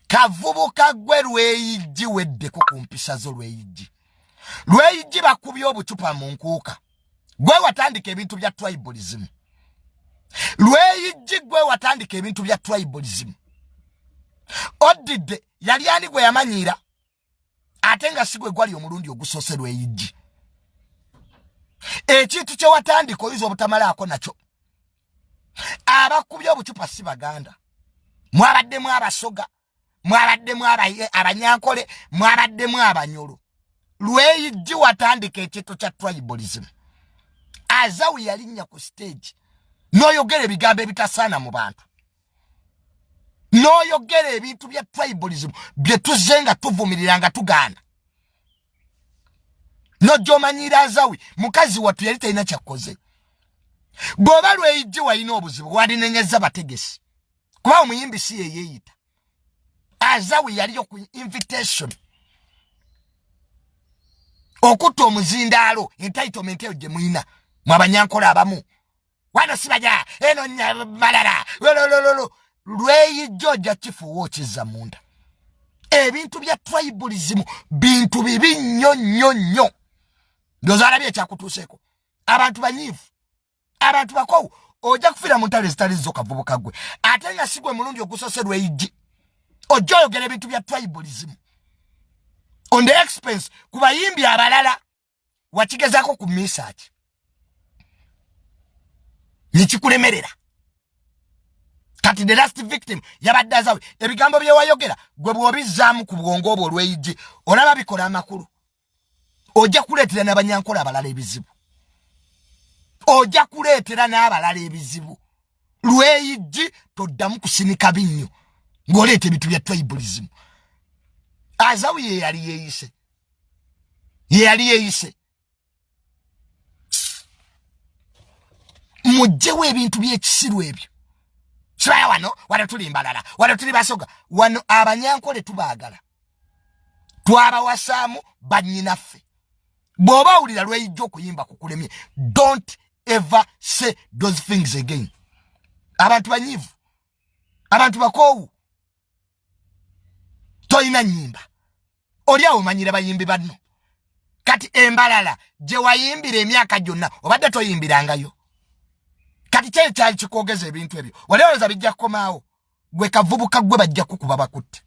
kavubuka gwe lweyijji weddeko ku mpisa zo lweyijji lweyijji bakubye obucupa mu nkuuka gwe watandika ebintu bya tribalism lweyijji gwe watandika ebintu bya tribalism oddidde yali ani gwe yamanyiira ate nga sigwe gwali omulundi ogusose lweyijji ekintu kyewatandika oyinza obutamalaako nakyo abakubye obucupa si baganda mwabaddemu abasoga mwabaddemu abanyankole mwabaddemu abanyolo lweyijji watandika ekintu kya tribalism azawu yalinnya ku stage noyogera ebigambo ebitasaana mu bantu n'oyogera ebintu bya tribalism bye tuzze nga tuvumirira nga tugaana nojomanyira azawi mukazi wattu yali talina kyakkoze bw'oba lweyijje walina obuzibu walinenyeza bategesi kuba omuyimbi si yeyeeyita azawi yaliyo ku invitation okutta omuzindaalo entitlement eyo gye mulina mwabanyankole abamu wano sibaja eno malala lololololo lweyijja ojja kifuuwa okizza munda ebintu bya tribalism bintu bibi nnyo nnyo nnyo ndozalabi ekyakutuuseeko abantu banyiivu abantu bakowu ojja kufiira mu ntalo ezitali zzo kavubuka gwe ate nga sigwe mulundi ogusose lweyijji ojja oyogera ebintu bya tribalism on the expense ku bayimbi abalala wakigezako ku misaki nekikulemerera kati the last victim yabadde azawe ebigambo byewayogera gwe bwobizzaamu ku bwongo obwo olweyijje olaba bikola amakulu ojja kuleetera n'abanyankola abalala ebizibu ojja kuleetera n'abalala ebizibu lweyijji toddamu kusinika binnyo ng'oleeta ebintu bya tribalism azawi ye yali yeeyise yeyali yeyise mujjewo ebintu byekisiru ebyo kibaya wano wano tuli mbalala wano tuli basoga wano abanyankole tubaagala twabawasaamu banyinaffe bw'oba awulira lweyijja okuyimba kukulemye don't ever say those things again abantu banyivu abantu bakoowu tolina nyimba oli awo manyira bayimbi banno kati embalala gye wayimbira emyaka gyonna obadde toyimbirangayo kati kyeyo kyali kikwogeza ebintu ebyo wali oweza bijja kukomaawo gwe kavubuka gwe bajja kukuba bakutte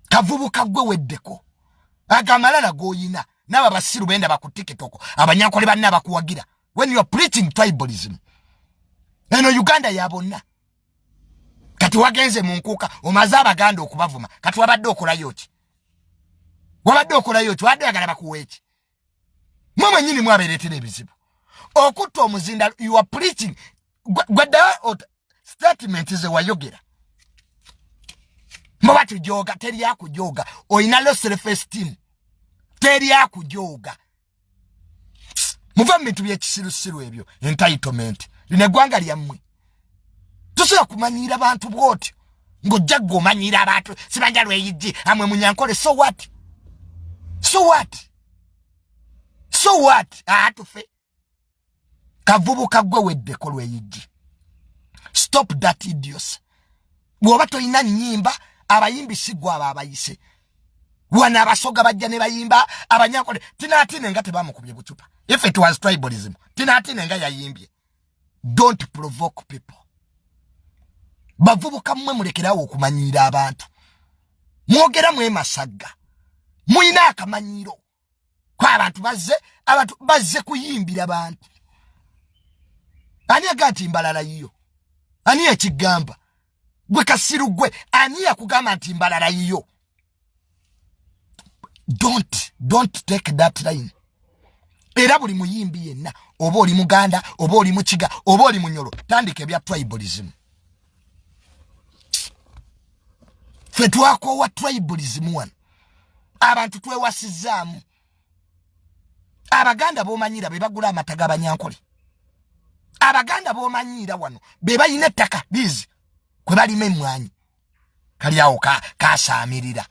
kavubuka gwe weddeko aga amalala goyina naabo abasiru benda bakutikitoko abanyankole banna abakuwagira when youare preaching tribalism eno uganda yabonna kati wagenze mu nkuuka omaze abaganda okubavuma kati wabadde okolayo ki wabadde okolayo ki wabadde yagala bakuweeki mwe mwenyini mwabeeretera ebizibu okutta omuzinda you are preaching gweddawa statement ze wayogera mwe batujooga teri akujooga olina low self esteem teri akujooga muve mu bintu byekisirusiru ebyo entitlement lino eggwanga lyammwe tosobola kumanyiira bantu bwotyo ng'ojja gwe omanyiira abantu sibanja lweyijji amwe munyankole so wat so wat so wat aatufe kavubuka gwe weddeko lweyijji stop that idios bwoba tolina nyimba abayimbi sigwa abo abayise wana abasoga bajja ne bayimba abanyakole tinatine nga tebamukubye bucupa if it was tribalism tinatine nga yayimbye don't provoke people bavubuka mmwe mulekerawo okumanyiira abantu mwogera mwemasagga mulina akamanyiiro kwa abantu bazze abantu bazze kuyimbira bantu ani agati mbalala yiyo ani ekigamba gwe kasiru gwe ani yakugamba nti mbalala yiyo don't don't take that line era buli muyimbi yenna oba oli muganda oba oli mukiga oba oli munyolo tandika ebya tribalism ffe twakoowa tribalism wano abantu twewasizzaamu abaganda bomanyiira be bagula amata gabanyankole abaganda bomanyiira wano be balina ettaka bizi kwe balima emmwanyi kali awo kasaamirira ka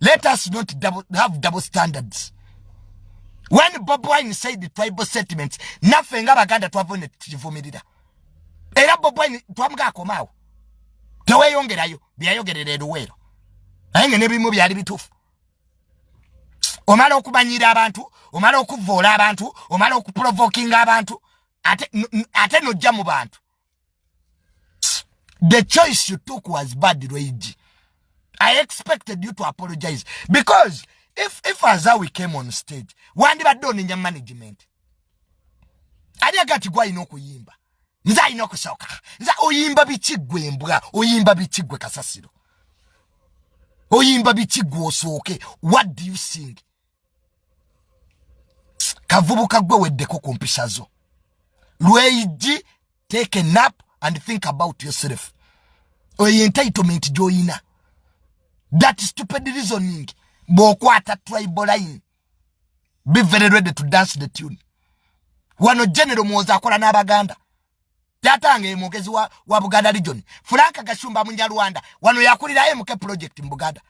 Let us not double, have double standards. When Bob Wine said the tribal statements, nothing about Ganda Twavone Tivumirida. Era Bob Wine Twamga Komao. Tewe yongera yo, biya yongera edo wero. Aenge nebi mubi ya libi tufu. Omalo kubanyira abantu, omalo kuvola abantu, omalo kuprovokinga abantu, ate, ate no jamu bantu. the choice you took was bad rage i expected you to apologize because if if as we came on stage wandibadde onenya management ani agati gwalina okuyimba nze alina okusooka nze oyimba biki gwe embwa oyimba biki gwe kasasiro oyimba biki gwe osooke what do you sing kavubuka gwe weddeko ku mpisa zo lweyiji take a nap and think about yourself oyo entitlement gyoyina that stupid reasoning bwokwata triboline be very ready to dance the tune wano general muwoza akola n'abaganda tata nge mugezi wa, wa buganda region frank gashumba munyarwanda wano yakulira mk project mu buganda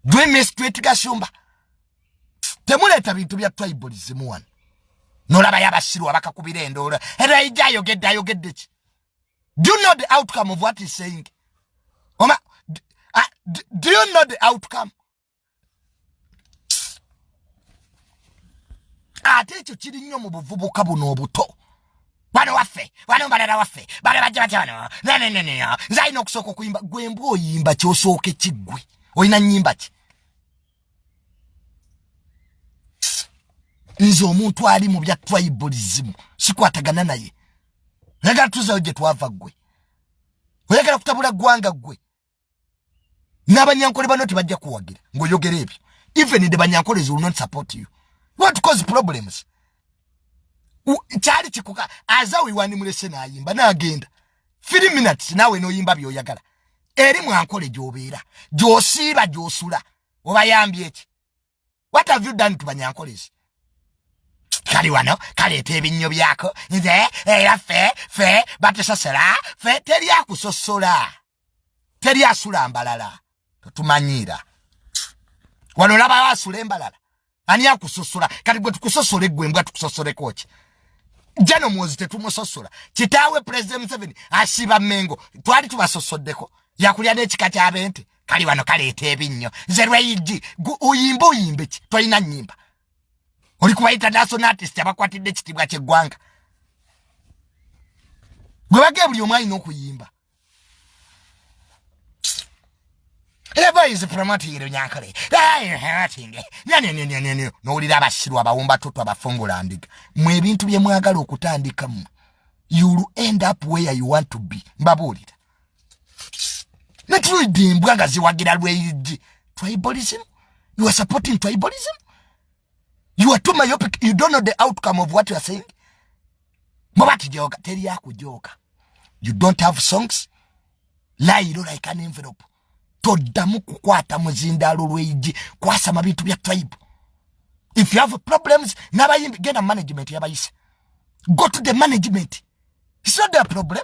do me street gashumba temuleta bintu bya tribalism one nolaba yabasiru abakakubira endoola era ija ayogedde ayogedde ki do you know the outcome of what is saying oma do, uh, do you know the outcome ate ekyo kiri nnyo mu buvubuka buno obuto wano waffe wano mbalala waffe bale bajja batya wano neneneneyo nze alina okusooka okuyimba gwe mbwa oyimba kyosooka ekiggwe olina nnyimba ki nze omuntu ali mu bya tribalism sikwatagana naye oyagala tuzayo gye twava ggwe oyagala kutabula ggwanga ggwe n'abanyankole bano tebajja kuwagira ng'oyogera ebyo even the banyankole will not support you what cause problems kyali kikuka aza wiwani mulese n'ayimba n'agenda three minutes naawe n'oyimba by'oyagala eri mwankole gy'obeera gy'osiiba gy'osula obayambye eki what have you done to banyankolesi kali wano kaleeta ebinnyo byako nze era fe fe batusasala fe teri akusosola teri asula mbalala totumanyiira wano olabawo asula embalala ani akusosola kati gwe tukusosola eggwe mbwa tukusosoleko ki jano mwozi tetumusosola kitaawe pulezidenti museveni asiba mengo twali tubasosoddeko yakulya n'ekika ky'abente kali wano kaleeta ebinnyo nze lweyigi uyimba oyimba ki tolina nyimba oli kuba international artist abakwatidde ekitiibwa kyeggwanga gwe bagee buli omu alina okuyimba Eba is promoting it nyankole. Dai hurting. Nyo nyo nyo nyo nyo. No ulira abashiru abawumba tutu abafungula andiga. Mwe bintu bye mwagala okutandika mu. You will end up where you want to be. Mbabulira. netulidde embwa nga ziwagira lweyigi tribalism you are supporting tribalism you are too myopic you don't know the outcome of what you are saying muba kijooka teri akujooka you don't have songs layiro like an envelope toddamu kukwata muzindaalo lweyigi kwasama bintu bya tribe if you have problems nabayimbi genda management yabayisa go to the management it's not their problem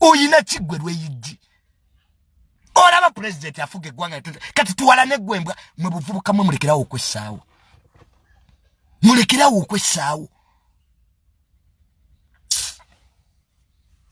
oyina kigwe lweyijji olaba president afuga eggwanga kati tuwalane gwembwa mwe buvubuka mwe mulekerawo okwessaawo mulekerawo okwessaawo